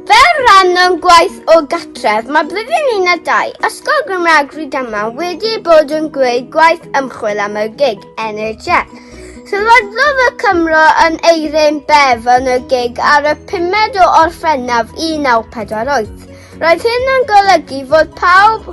Fel rhan o'n gwaith o gatref, mae blwyddyn un a dau Ysgol Gymraeg Rhydyma wedi bod yn gwneud gwaith ymchwil am y gig NHS. Sylwadlodd y Cymro yn Eirin Bev yn y gig ar y 5 o Orffennaf 1948. Roedd hyn yn golygu fod pawb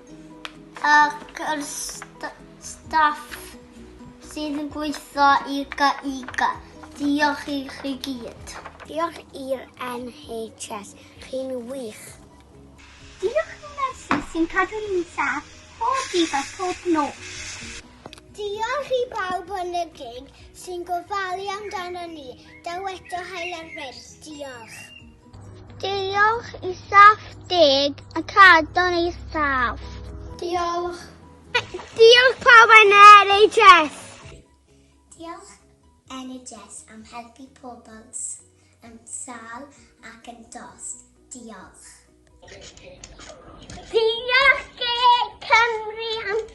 Ac yr st staff sydd yn gweithio i GIGA. Diolch i chi gyd. Diolch i'r NHS, chi'n wych. Diolch i'n nyrsys sy'n cadw ni'n saff pob dydd a phob nos. Diolch i bawb yn y gig sy'n gofalu amdano ni. Daw eto Hael ar Bryn. Diolch. Diolch i staff deg y cadw'n eithaf. Diolch. Diolch pawb yn NHS. Diolch NHS am helpu pobl yn sal ac yn dost. Diolch. Diolch Cymru am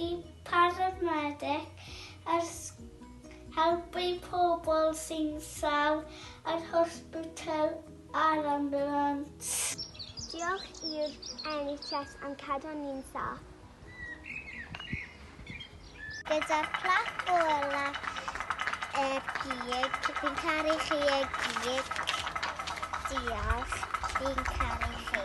Y parameddyg yn helpu pobl sy'n sâl yr hosbitl a'r ambiwlans. Diolch i'r NHS am cadw ni'n saff. Gyda Plac Gola y Gig, fi'n caru chi y gig. Diolch, fi'n caru chi.